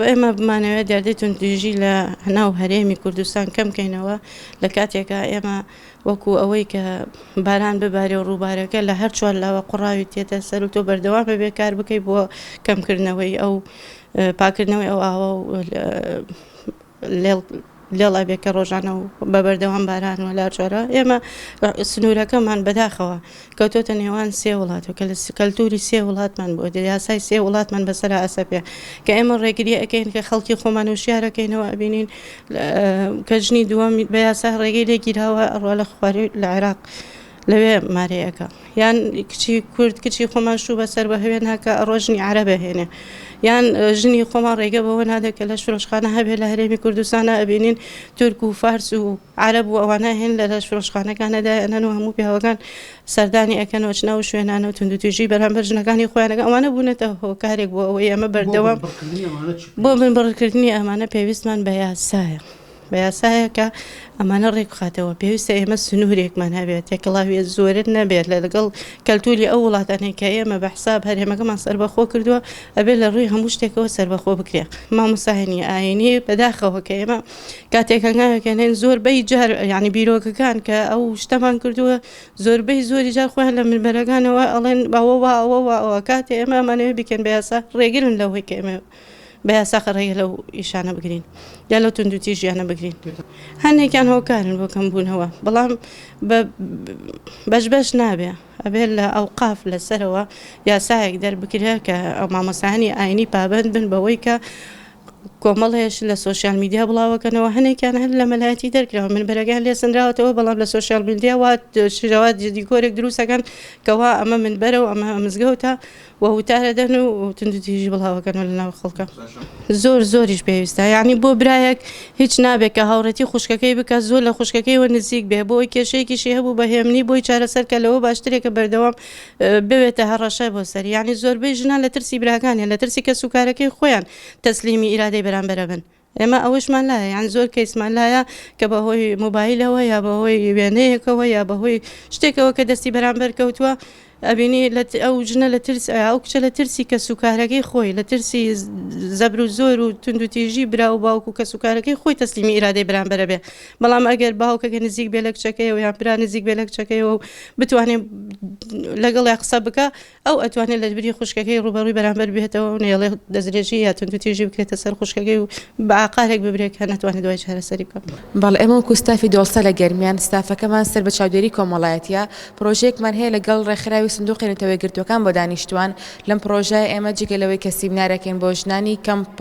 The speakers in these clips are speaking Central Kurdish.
ئێمە بمانەوێت دیاردەی توندوتیژی لە ناو هەرێمی کوردستان کەم کەینەوە لە کاتێکا ئێمە وەکو ئەوەی کە باران ببارێ و ڕووبارەکە لە هەر چوار لاوە قوڕاوی تێتە سەر و تۆ بەردەوام بەبێ کار بکەی بۆ کەمکردنەوەی ئەو پاکردنەوەی ئەو ئاوە و لێڵ لێڵ ئەبێ کە ڕۆژانە و بە بەردەوام باران و لارجارە ئێمە سنوورەکەمان بەداخەوە کەوتۆتە نێوان سێ وڵات و کە لە کەلتوری سێ وڵاتمان بۆ یاسای سێ وڵاتمان بەسەر ئەسەپێ کە ئێمە ڕێگری ئەەکەین کە خەڵکی خۆمان و شارەکەینەوە ئەبینین کە ژنی دووەم بە یاسا ڕێگەی لێگیراوە ئەڕوا لە خواری لە عێراق. لەوێ مارێ ئەکا یان کچی کورد کچی خۆمان شوو بەسەر بە هەوێ ناکە ئەڕۆ ژنی عرە بەهێنێ یان ژنی خۆمان ڕێگە بەوە نادێت کە لە شرۆشخانە هەبێ لە هەرێمی کوردستانە ئەبینین تورک و فارس و عرب و ئەوانە هێن لە لە شرۆشخانەکانەدا ئەنەن و هەموو پیاوەکان سەردانی ئەەکەن و چنەوە شوێنانە و تونندتوێژی بەرامبەر ژنەکانی خۆیانەکە ئەوانە بوونەتە هۆکارێک بۆ ئەوەی ئەمە بەردەوام بۆ من بڕکردنی ئەمانە پێویستمان بە یاسایە. بە یاسایەکە ئەمانە ڕێکبخاتەوە، پێویستە ئێمە سنوورێکمان هەبێت، تێکەڵاوییە زۆرر نەبێت لەگەڵ کەلتووری ئەو وڵاتانەی کە ئێمە بە حساب هەرێمەکەمان سەربەخۆ کردووە، ئەبێ لە ڕووی هەموو شتێکەوە سەربەخۆ بکرێت. مامۆستا هەنی ئاینی، بەداخەوە کە ئێمە کاتێک هەنگاوێک ئەنێن زۆربەی جار یانی بیرۆکەکان کە ئەو شتەمان کردووە زۆربەی زۆری جار خۆیان لە منبەرەکانەوە ئەڵێن ئەوە وا ئەوە وا ئەوە، کاتێ ئێمە ئەمانەوێ بیکەن بە یاسا ڕێگرن لەوەی کە ئێمە بە یاساخ ڕێگە لەو ئیشانە بگرین یا لەو توندوتیژیانە بگرین هەندێکیان هۆکارن بۆ کەم بوونەوە بەڵام بەش بەش نابێ ئەبێت لە ئەو قاف لەسەرەوە یاسایەک دەربکرێ کە ئەو مامۆسانی ئاینی پابند بن بەوەی کە کۆمەڵێش لە سوۆسیال میدیا بڵاوەکەنەوە هەنێکیان هەر لە مەلایەتی دەرکراوە من بەرەگان لێ سنراوەتەوە بەڵام لە سوۆسیال میدیا وات شرەوات جدی کۆرێک دروستەکەن کەوا ئەمە من بەرە و ئەمە مزگەوتە و وتارە دەن و توندوتیژی بڵاو ئەکەن و لەناو خەڵکا زۆر زۆریش پێویستە یانی بۆ برایەک هیچ نابێت کە هاوڕێتی خوشکەکەی بکات زۆر لە خوشکەکەی وە نزیک بێ بۆ ئەوی کێشەیەکیشی هەبوو بە هێمنی بۆی چارەسەر کە لەوە باشترێک کە بەردەوام بوێتە هەڕەشە بۆ سەری یانی زۆربەی ژنان لە ترسی براکانیان لە ترسی کەسوکارەکەی خۆیان تەسلیمی ئیرادەی بەرامبەرە بن ئێمە ئەوەشمان لایە یان زۆر کەیسمان لایە کە بەهۆی موبایلەوە یا بەهۆی وێنەیەکەوە یا بەهۆی شتێکەوە کە دەستی بەرامبەر کەوتووە ئەبینی ئەو ژنە لە ترس ئەو کچە لە ترسی کە سوکارەکەی خۆی لە ترسی زەبر و زۆر و تونندوتیژی برا و باوکو کە سوکارەکەی خۆی تەسلیمی ئیرادەی بەرامبەرە بێ بەڵام ئەگەر باوکەکە نزیک بێ لە کچەکەی و یان برا نزیک بێ لە کچەکەی و بتوانێت لەگەڵ قسە بکە ئەو ئەتوانێت لە بری خوشکەکەی ڕووبەڕووی بەرامبەر بێتەوە و نێڵێ دەستدرێژی یا توندوتیژی بکرێتە سەر خوشکەکەی و بە ئاقارێک ببرێت کە نەتوانێت دوای چارەسەری بکات. بەڵێ، ئێمە وەکو ستافی دۆڵسە لە گەرمیان، ستافەکەمان سەر بە چاودێری کۆمەڵایەتییە، پڕۆژەیەکمان هەیە لەگەڵ ڕێکخراوی سندوقی نەتەوە یەکگرتووەکان بۆ دانیشتووان، لەم پڕۆژایە ئێمە جگە لەوەی کە سیمنارەکەین بۆ ژنانی کەمپ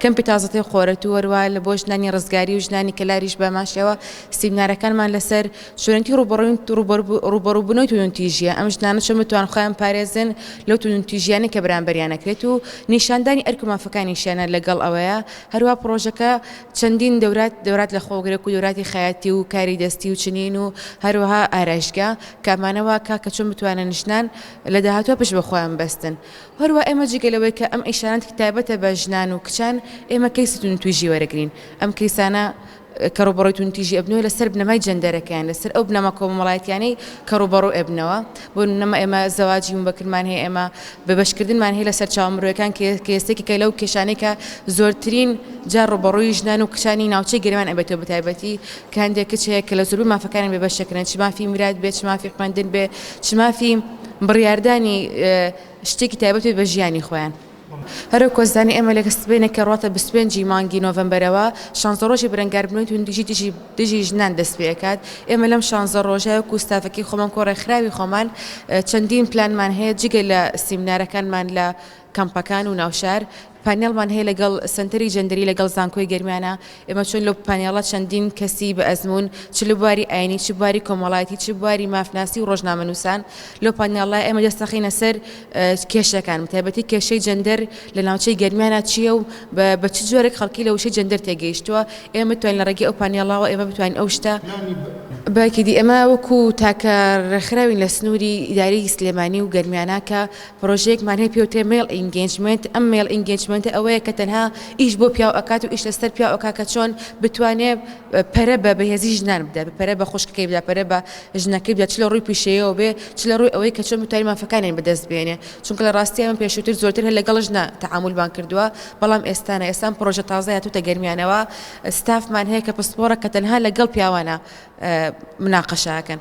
کەمپی تازەتەی قۆرەتوو هەروەها بۆ ژنانی ڕزگاری و ژنانی کەلاریش بەهەمانشێوە سیمنارەکانمان لەسەر چۆنێتی ڕووبەڕووبوونەوەی توندوتیژییە، ئەم ژنانە چۆن بتوانن خۆیان بپارێزن لەو توندوتیژییانەی کە بەرامبەریان ئەکرێت و نیشاندانی ئەرک و مافەکانیشیانە لەگەڵ ئەوەیە هەروەها پڕۆژەکە چەندین دەورات لەخۆگرێک و دەوراتی خەیاتی و کاری دەستی و چنین و هەروەها ئارایشتگا کە ئەمانە واکا کە چۆن بتوانن ژنان لە داهاتووە پشت بەخۆیان ببەستن و هەروەها ئێمە جگە لەوەی کە ئەم ئیشانە تایبەتە بە ژنان و کچان ئێمە کەیسی توندوتیژی وەرەگرین ئەم کەیسانە کەڕوبەڕوی توندتیژی ئەبنەوە لەسەر بنەمای جەندەرەکە یان لەسەر ئەو بنەما کۆمەمەڵایەتیانەی کەڕوبەڕو ئەبنەوە بۆ نمونە ئێمە زەواجی موبەکرمان هەیە ئێمە بێبەشکردنمان هەیە لە سەرچاوە مرۆیەکان کە یەستێکێکە لەو کێشانەی کە زۆرترین جار ڕوبەڕوی ژنان و کچانی ناوچەی گەرمیان ئەبێتەوە بەتایبەتی کە هەندێک کچ هەیە کە لە زۆربەی مافەکانیان بێبەش دەکرێن چ مافی میرات بێت چ مافی خوێندن بێت چ مافی بڕیاردانی شتێکی تایبەت بێت بە ژیانی خۆیان. هەر وەک وەزانی ئێمە لە سبەینێکە ڕواتە بیست و پێنج ی مانگی نۆڤەمبەرەوە شانزە ڕۆژی بەرەنگاربوونەوەی توندوتیژی دژی دژی ژنان دەست پێ ئەکات ئێمە لەم شانزە ڕۆژە وەکو ستافەکی خۆمان کۆ ڕێکخراوی خۆمان چەندین پلانمان هەیە جگە لە سیمنارەکانمان لە کەمپەکان و ناوشار پانێڵمان هەیە لەگەڵ سەنتەری جەندەری لەگەڵ زانکۆی گەرمیانە ئێمە چووین لەو پانێڵە چەندین کەسی بە ئەزموون چ لە بواری ئاینی چ بواری کۆمەڵایەتی چ بواری مافناسی و ڕۆژنامەنووسان لەو پانێڵە ئێمە دەست دەخەینە سەر کێشەکان بە تایبەتی کێشەی جەندەر لە ناوچەی گەرمیانە چییە و بە چ جۆرێک خەڵکی لە وشەی جەندەر تێگەیشتووە ئێمە بتوانین لە ڕێگەی ئەو پانێڵەوە ئێمە بتوانین ئەو شتە بەکیدی ئێمە وەکوو تاکە ڕێکخراوین لە سنووری ئیدارەی سلێمانی و گەرمیانە کە پرۆژەیەکمان هەیە پێی وترێ مەیڵ ئینگێجمێنت، ئەم مەیڵ ئینگێجمێنتە ئەوەیە کە تەنها ئیش بۆ پیاو ئەکات و ئیش لەسەر پیاو ئەکات کە چۆن بتوانێ پەرە بە بەهێزی ژنان بدات، پەرە بە خوشکەکەی بدات، پەرە بە ژنەکەی بدات، چ لە ڕووی پیشەیەوە بێ، چ لە ڕووی ئەوەی کە چۆن بتوانێ مافەکانیان بەدەست بێنێ، چونکە لە ڕاستییا من پێشووتر زۆرتر هەر لەگەڵ ژنە تەعامولمان کردووە، بەڵام ئێستا نا، ئێستا ئەم پرۆژە تازە هاتووتە گەرمیانەوە، ستافمان هەیە کە پسپۆڕە کە تەنها لەگەڵ پیاوانە مناقەشە ئەکەن.